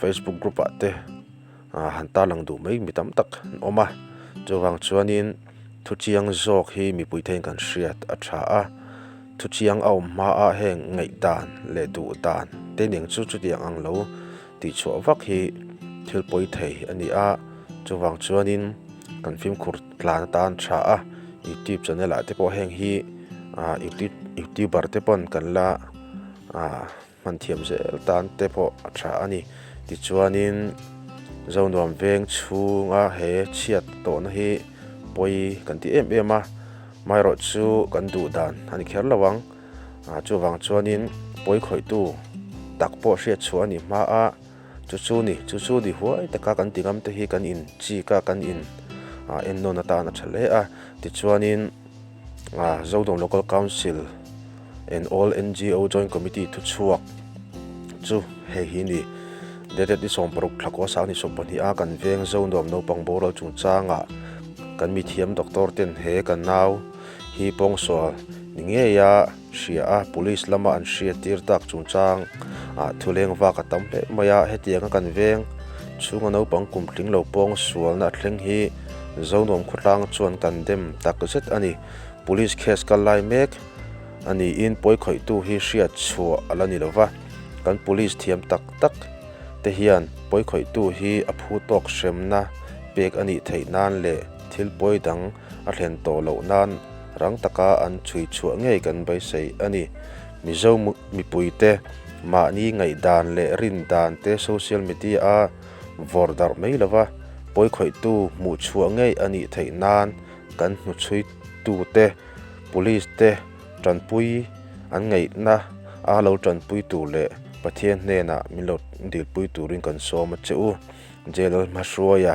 facebook group ah te ah han tarlang duh mai mi tam tak an awm a chuvang chuanin thuchiang zawk hi mipui theihin kan hriat a tha a thuchiang a awm hmaah heng ngaihdan leh duhdan te ning chu chutiang ang lo tih chhuah vak hi thil pawi thei a ni a chuvang chuanin kan fimkhur tlan atan tha a youtube channel ah te pawh heng hi ah youtube youtuber te pawn kan la ah. hman thiam zel tan te pawh a tha a ni. Tichuanin Zonuam veng chhunga he chhiat tawhna hi pawi kan ti em em a, amaherawh chu kan duh dan a ni kher lo ang. Chuvang chuanin pawi khawihtu tak pawh hriat chhuah a nih hma a, chu chu ni, chu chu ni huai taka kan tingam te hi kan in chik a, kan in en nawn atan a tha hle a. Tichuanin. Zodawng Local Council and All NGO Joint Committee thuchhuak chu hei hi ni, Dated ni sawm paruk thlak aw sang ni sawm pahnih a kan veng zo nuam naupang boral chungchanga kan mithiam doctor ten he ka nau hi pawngsual ni ngei a, hria a, police lama an hria tir tak chungchang ah thuleng vak a tam hle mai a, hetianga kan veng chhunga naupang kum tling lo pawng a sualna a thleng hi zo nuam khawtlang chuan kan dem tak zet a ni, police case kal lai mek a niin pawi khawih tu hi hriat chhuah a la ni lova, kan police thiam tak tak te hian pawi khawih tu hi a phu tawk hremna pek a nih theih nan leh thil pawi dang a thlen tawh loh nan rang taka an chhui chhuah ngei kan beisei a ni. Mizo mipui te mahni ngaihdan leh rindan te social media a vawr darh mai lo va, pawikhawihtu hmuh chhuah ngei a nih theih nan kan hnuchhui tu te, police te tanpui an ngaihna a lo tanpui tur leh Pathian hnenah min lo dilpui turin kan sawm a che u. Jail hma hruaia.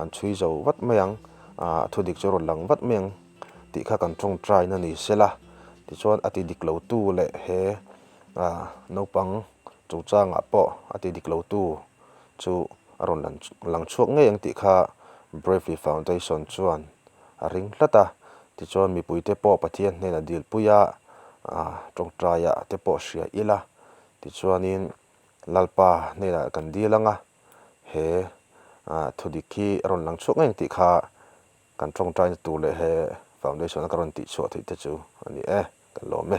an chhui zo vat mai ang, a thu dik chu a rawn lang vat mai ang tih kha kan tawng try na ni sela, tichuan a ti dik lo tu leh he naupang chung changah pawh a ti dik lo tu chu a rawn lang chhuak ngei ang tih kha Bravely Foundation chuan a ring hlat a, tichuan mipui te pawh Pathian hnenah dilpui a tawng try ah te pawh a hria ila, tichuanin Lalpa hnenah kan dil ang a. He thudik hi a rawn lang chhuak ngei ang tih kha kan tawngtaina tur leh he foundation-a ka rawn tihchhuah theih te chu a ni e, kan lawm e.